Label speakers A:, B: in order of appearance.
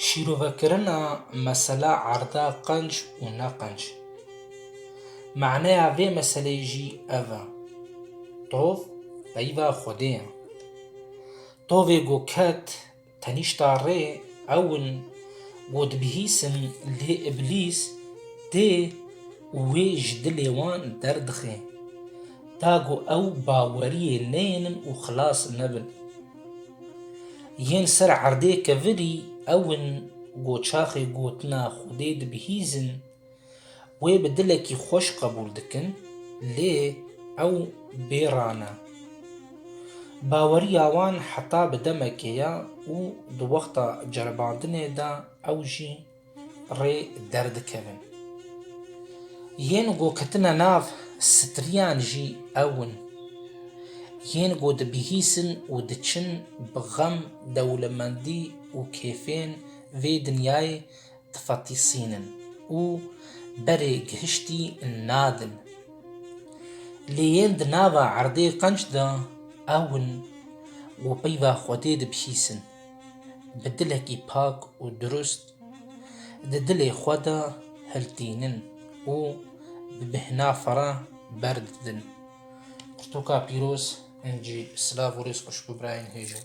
A: Şîrovekirina mesela erda qenc û ne qenc. Maneya vê meseleyê jî ev e. Tov peyva Xwedê ye. Tovê ku ket tenîşta rê ew in ku dibihîsin lê îblîs tê û wê ji dilê wan derdixê. Ta ku ew baweriyê neyênin û xilas nebin. Yên ser erdê kevirî ew in ku çaxê gotina Xwedê dibihîzin, wê bi dilekî xweş qebûl dikin, lê ew bêra ne. Baweriya wan heta bi demekê ye û di wexta ceribandinê de ew jî rê derdikevin. Yên ku ketine nav striyan jî ew in. Yên ku dibihîsin û diçin bi xem, dewlemendî û kêfên vê dinyayê difetisînin û berê gihiştî nadin. Lê yên di nava erdê qenc de ew in ku peyva Xwedê dibihîsin. bi dilekî pak û dirust di dilê xwe de hiltînin û bi bêhna ferah berdidin. Pirtûka pîroz ên cî silav û rêz xweşik û birayên hêj in.